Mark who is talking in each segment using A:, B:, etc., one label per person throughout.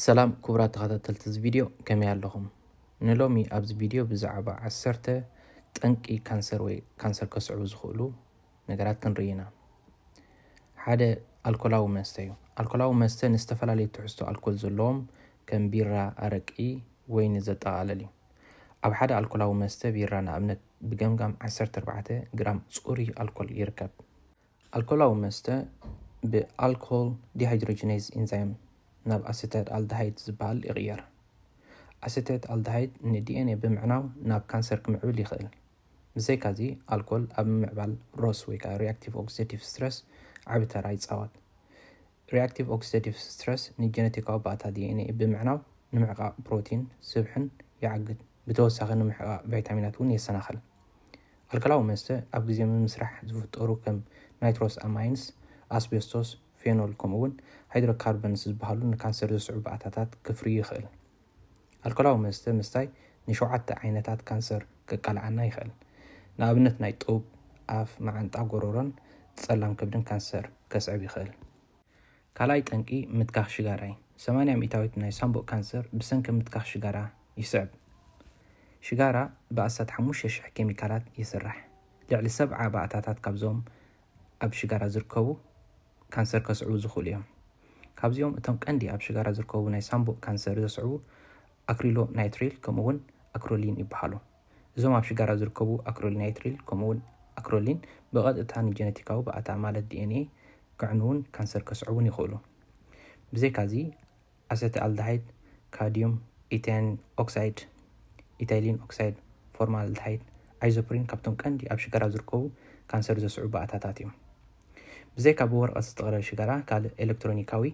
A: ሰላም ክቡራት ተኸታተልቲ እዚ ቪድዮ ከመይ ኣለኹም? ንሎሚ ኣብዚ ቪድዮ ብዛዕባ ዓሰርተ ጠንቂ ካንሰር ወይ ካንሰር ከስዕቡ ዝኽእሉ ነገራት ክንርኢ ኢና። ሓደ ኣልኮላዊ መስተ እዩ። ኣልኮላዊ መስተ ንዝተፈላለዩ ትሕዝቶ ኣልኮል ዘለዎም ከም ቢራ፣ ኣረቂ፣ ወይኒ ዘጠቓልል እዩ። ኣብ ሓደ ኣልኮላዊ መስተ ቢራ ንኣብነት ብገምጋም ዓሰርተ ኣርባዕተ ግራም ጽሩይ ኣልኮል ይርከብ። ኣልኮላዊ መስተ ብኣልኮል ዲሃይድሮጂኔዝ ኢንዛይም ናብ ኣሰቴት ኣልደሃይድ ዝበሃል ይቕየር። ኣሰቴት ኣልደሃይድ ንዲኤንኤ ብምዕናው ናብ ካንሰር ክምዕብል ይኽእል። ብዘይካዚ፣ ኣልኮል ኣብ ምምዕባል ሮስ ወይ ከዓ ሪኣክቲቭ ኦክሲደቲቭ ስትረስ ዓቢ ተራ ይጻወት። ሪኣክቲቭ ኦክሲደቲቭ ስትረስ ንጀነቲካዊ ባእታ ዲኤንኤ ብምዕናው ንምሕቃቕ ፕሮቲን፣ ስብሕን፣ ይዓግት። ብተወሳኺ ንምሕቃቕ ቫይታሚናት እውን የሰናኽል። ኣልከላዊ መስተ ኣብ ግዜ ምምስራሕ ዝፍጠሩ ከም ናይትሮስ ኣማይንስ፣ ኣስቤስቶስ፣ ፌኖል ከምኡ'ውን ሃይድሮካርበንስ ዝበሃሉ ንካንሰር ዘስዕቡ ባእታታት ክፍርዩ ይኽእል። ኣልኮላዊ መስተ ምስታይ ንሸውዓተ ዓይነታት ካንሰር ከቃልዓና ይኽእል። ንኣብነት ናይ ጡብ፣ ኣፍ፣ መዓንጣ፣ ጎሮሮን ጸላም ከብድን ካንሰር ከስዕብ ይኽእል። ካልኣይ ጠንቂ ምትካኽ ሽጋራ እዩ። ሰማንያ ሚእታዊት ናይ ሳንቡእ ካንሰር ብሰንኪ ምትካኽ ሽጋራ ይስዕብ። ሽጋራ ብኣስታት ሓሙሽተ ሽሕ ኬሚካላት ይስራሕ። ልዕሊ ሰብዓ ባእታታት ካብዞም ኣብ ሽጋራ ዝርከቡ፣ ካንሰር ከስዕቡ ዝኽእሉ እዮም። ካብዚኦም እቶም ቀንዲ ኣብ ሽጋራ ዝርከቡ ናይ ሳንቡእ ካንሰር ዘስዕቡ ኣክሪሎናይትሪል ከምኡ'ውን ኣክሮሊን ይበሃሉ። እዞም ኣብ ሽጋራ ዝርከቡ ኣክሪሎናይትሪል ከምኡ'ውን ኣክሮሊን ብቐጥታ ንጀነቲካዊ ባእታ ማለት ዲኤንኤ ከዕንዉን ካንሰር ከስዕቡን ይኽእሉ። ብዘይካ'ዚ፣ ኣሰተኣልደሃይድ፣ ካድዩም፣ ኢተን ኦክሳይድ፣ ኢታይሊን ኦክሳይድ፣ ፎርማልደሃይድ፣ ኣይዞፕሪን ካብቶም ቀንዲ ኣብ ሽጋራ ዝርከቡ ካንሰር ዘስዕቡ ባእታታት እዮም። ብዘይካ ብወረቐት ዝጥቕለል ሽጋራ ካልእ ኤለክትሮኒካዊ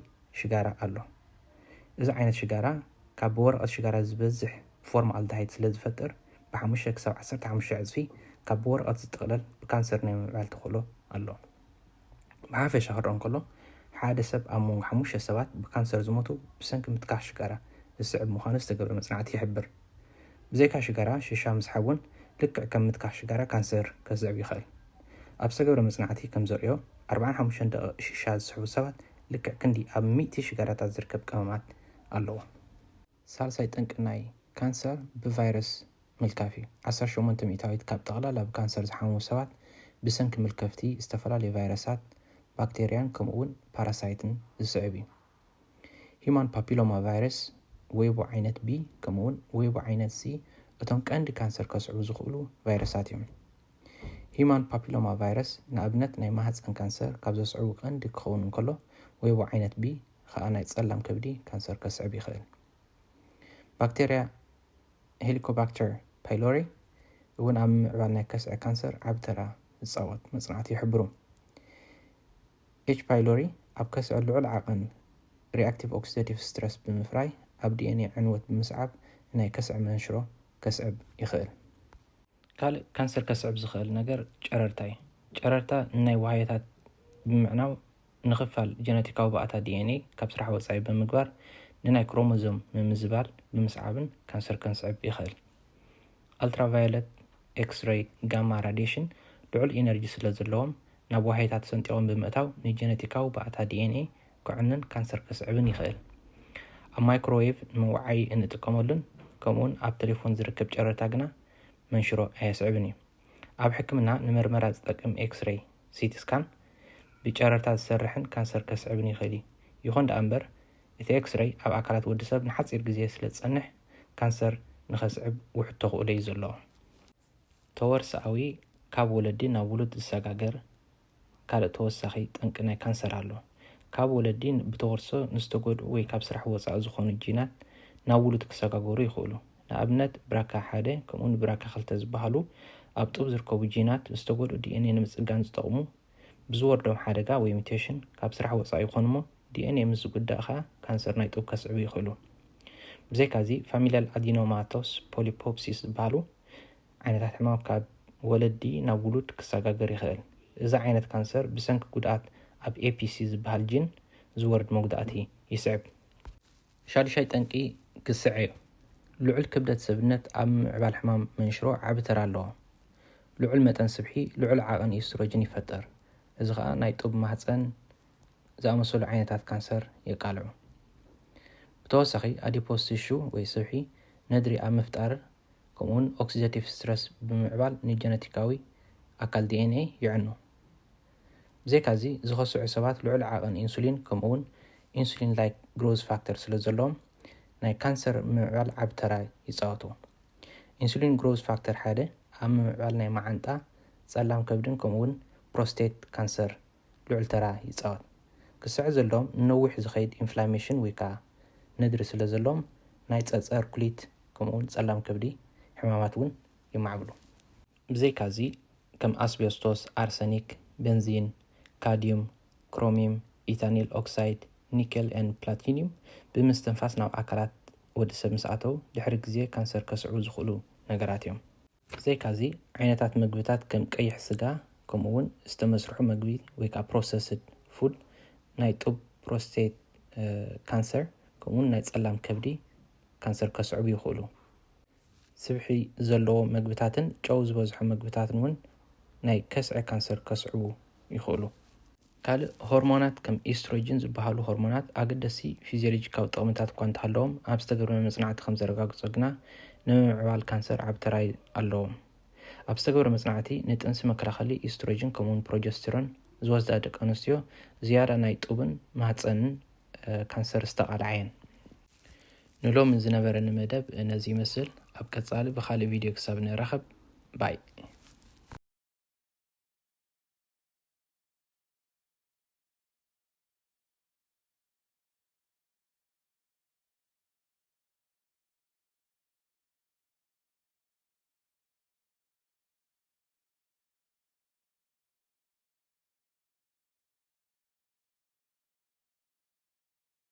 A: ሽጋራ ኣሎ። እዚ ዓይነት ሽጋራ ካብ ብወረቐት ሽጋራ ዝበዝሕ ፎርማልደሃይድ ስለ ዝፈጥር ብሓሙሽተ ክሳብ ዓሰርተ ሓሙሽተ ዕጽፊ ካብ ብወረቐት ዝጥቕለል ብካንሰር ናይ ምምዕባል ተኽእሎ ኣሎ። ብሓፈሻ ክረኦ እንከሎ፣ ሓደ ሰብ ኣብ መንጎ ሓሙሽተ ሰባት ብካንሰር ዝሞቱ ብሰንኪ ምትካኽ ሽጋራ ዝስዕብ ምዃኑ ዝተገብረ መጽናዕቲ ይሕብር። ብዘይካ ሽጋራ፣ ሽሻ ምስሓብ እውን ልክዕ ከም ምትካኽ ሽጋራ ካንሰር ከስዕብ ይኽእል። ኣብ ዝተገብረ መጽናዕቲ ከም ዘርእዮ፣ ኣርብዓን ሓሙሽተን ደቒቕ ሽሻ ዝስሕቡ ሰባት ልክዕ ክንዲ ኣብ ሚእቲ ሽጋራታት ዝርከብ ቀመማት ኣለዎም። ሳልሳይ ጠንቂ ናይ ካንሰር ብቫይረስ ምልካፍ እዩ። ዓሰርተ ሸሞንተ ሚእታዊት ካብ ጠቕላላ ብካንሰር ዝሓምሙ ሰባት ብሰንኪ ምልከፍቲ ዝተፈላለዩ ቫይረሳት፣ ባክተርያን ከምኡ'ውን ፓራሳይትን ዝስዕብ እዩ። ሂዩማን ፓፒሎማ ቫይረስ፣ ዌይቦ ዓይነት ቢ ከምኡ'ውን ዌይቦ ዓይነት ሲ እቶም ቀንዲ ካንሰር ከስዕቡ ዝኽእሉ ቫይረሳት እዮም። ሂዩማን ፓፒሎማ ቫይረስ ንኣብነት ናይ ማህጸን ካንሰር ካብ ዘስዕቡ ቀንዲ ክኸውን እንከሎ ዌይቦ ዓይነት ቢ ኸኣ ናይ ጸላም ከብዲ ካንሰር ከስዕብ ይኽእል። ባክተርያ ሄሊኮባክተር ፓይሎሪ እውን ኣብ ምምዕባል ናይ ከስዐ ካንሰር ዓቢ ተራ ዝጻወት መጽናዕቲ ይሕብሩ። ኤች ፓይሎሪ ኣብ ከስዐ ልዑል ዓቐን ሪኣክቲቭ ኦክሲደቲቭ ስትረስ ብምፍራይ ኣብ ዲኤንኤ ዕንወት ብምስዓብ ናይ ከስዐ መንሽሮ ከስዕብ ይኽእል። ካልእ ካንሰር ከስዕብ ዝኸእል ነገር ጨረርታ እዩ። ጨረርታ ንናይ ዋህዮታት ብምዕናው ንክፋል ጀነቲካዊ ባእታ DNA ካብ ስራሕ ወጻኢ ብምግባር ንናይ ክሮሞዞም ምምዝባል ብምስዓብን ካንሰር ከንስዕብ ይኸእል። ኣልትራቫዮለት፣ ኤክስረይ፣ ጋማ ራድየሽን ልዑል ኢነርጂ ስለዘለዎም ናብ ዋህዮታት ሰንጢቖም ብምእታው ንጀነቲካዊ ባእታ DNA ከዕኑን ካንሰር ከስዕብን ይኽእል። ኣብ ማይክሮዌቭ ንምውዓይ እንጥቀመሉን ከምኡውን ኣብ ተሌፎን ዝርከብ ጨረርታ ግና መንሽሮ ኣየስዕብን እዩ። ኣብ ሕክምና ንመርመራ ዝጠቅም ኤክስሬይ፣ ሲቲ ስካን፣ ብጨረርታ ዝሰርሕን ካንሰር ከስዕብን ይኽእል እዩ። ይኹን ደኣ እምበር፣ እቲ ኤክስሬይ ኣብ ኣካላት ወዲ ሰብ ንሓጺር ግዜ ስለ ዝጸንሕ ካንሰር ንኸስዕብ ውሑድ ተኽእሎ እዩ ዘለዎ። ተወርሶኣዊ፣ ካብ ወለዲ ናብ ውሉድ ዝሰጋገር ካልእ ተወሳኺ ጠንቂ ናይ ካንሰር ኣሎ። ካብ ወለዲ ብተወርሶ ንዝተጎድኡ ወይ ካብ ስራሕ ወጻኢ ዝኾኑ ጂናት ናብ ውሉድ ክሰጋገሩ ይኽእሉ። ንኣብነት ብራካ ሓደ ከምኡውን ብራካ ክልተ ዝበሃሉ ኣብ ጡብ ዝርከቡ ጂናት ዝተጎድኡ ዲኤንኤ ንምጽጋን ዝጠቕሙ ብዝወርዶም ሓደጋ ወይ ሙቴሽን ካብ ስራሕ ወጻኢ ይኾኑ'ሞ ዲኤንኤ ምስ ዝጉዳእ ከኣ ካንሰር ናይ ጡብ ከስዕቡ ይኽእሉ። ብዘይካ'ዚ ፋሚልያል ኣዲኖማቶስ ፖሊፖፕሲስ ዝበሃሉ ዓይነታት ሕማም ካብ ወለዲ ናብ ውሉድ ክሰጋገር ይኽእል። እዚ ዓይነት ካንሰር ብሰንኪ ጉድኣት ኣብ ኤፒሲ ዝበሃል ጂን ዝወርድ መጉዳእቲ ይስዕብ። ሻዱሻይ ጠንቂ ግስዐ'ዩ። ልዑል ክብደት ሰብነት ኣብ ምምዕባል ሕማም መንሽሮ ዓቢ ተራ ኣለዎ። ልዑል መጠን ስብሒ ልዑል ዓቕን ኢስትሮጅን ይፈጥር፣ እዚ ኸኣ ናይ ጡብ ማህጸን ዝኣመሰሉ ዓይነታት ካንሰር የቃልዑ። ብተወሳኺ ኣዲፖስ ቲሹ ወይ ስብሒ ነድሪ ኣብ ምፍጣር ከምኡ'ውን ኦክሲደቲቭ ስትረስ ብምምዕባል ንጀነቲካዊ ኣካል ዲኤንኤ የዕኑ። ብዘይካዚ፣ ዝኸስዑ ሰባት ልዑል ዓቐን ኢንሱሊን ከምኡ'ውን ኢንሱሊን-ላይክ ግሮዝ ፋክተር ስለ ዘለዎም፣ ናይ ካንሰር ምምዕባል ዓቢ ተራ ይጻወቱ። ኢንሱሊን ግሮዝ ፋክተር ሓደ ኣብ ምምዕባል ናይ መዓንጣ፣ ጸላም ከብድን ከምኡ'ውን ፕሮስቴት ካንሰር ልዑል ተራ ይጻወት። ክስዕር ዘለዎም ንነዊሕ ዝኸይድ ኢንፍላሜሽን ወይ ከኣ ነድሪ ስለ ዘለዎም፣ ናይ ጸጸር ኩሊት ከምኡ'ውን ጸላም ከብዲ ሕማማት እውን የማዕብሉ። ብዘይካዚ ከም ኣስቤስቶስ፣ ኣርሰኒክ፣ በንዚን፣ ካድዩም፣ ክሮሚም፣ ኢታኒል ኦክሳይድ፣ ኒከል and ፕላቲኒዩም ብምስትንፋስ ናብ ኣካላት ወዲ ሰብ ምስ ኣተው ድሕሪ ግዜ ካንሰር ከስዕቡ ዝኽእሉ ነገራት እዮም። ብዘይካዚ ዓይነታት መግብታት ከም ቀይሕ ስጋ ከምኡ እውን ዝተመስርሑ መግቢ ወይ ከዓ ፕሮሰስድ ፉድ ናይ ጡብ ፕሮስቴት ካንሰር ከምኡ እውን ናይ ፀላም ከብዲ ካንሰር ከስዕቡ ይኽእሉ። ስብሒ ዘለዎ መግብታትን ጨው ዝበዝሖ መግብታትን እውን ናይ ከስዐ ካንሰር ከስዕቡ ይኽእሉ። ካልእ ሆርሞናት ከም ኢስትሮጅን ዝበሃሉ ሆርሞናት ኣገደስቲ ፊዝዮሎጂካዊ ጥቕምታት እኳ እንተሃለዎም ኣብ ዝተገብረ መጽናዕቲ ከም ዘረጋግጾ ግና ንምምዕባል ካንሰር ዓቢ ተራ ኣለዎም። ኣብ ዝተገብረ መጽናዕቲ ንጥንሲ መከላኸሊ ኢስትሮጅን ከምኡውን ፕሮጀስቲሮን ዝወስዳ ደቂ ኣንስትዮ ዝያዳ ናይ ጡብን ማህጸንን ካንሰር ዝተቓልዓ እየን። ንሎሚ ዝነበረኒ መደብ ነዚ ይመስል ኣብ ቀጻሊ ብካልእ ቪድዮ ክሳብ ንራኸብ ባይ።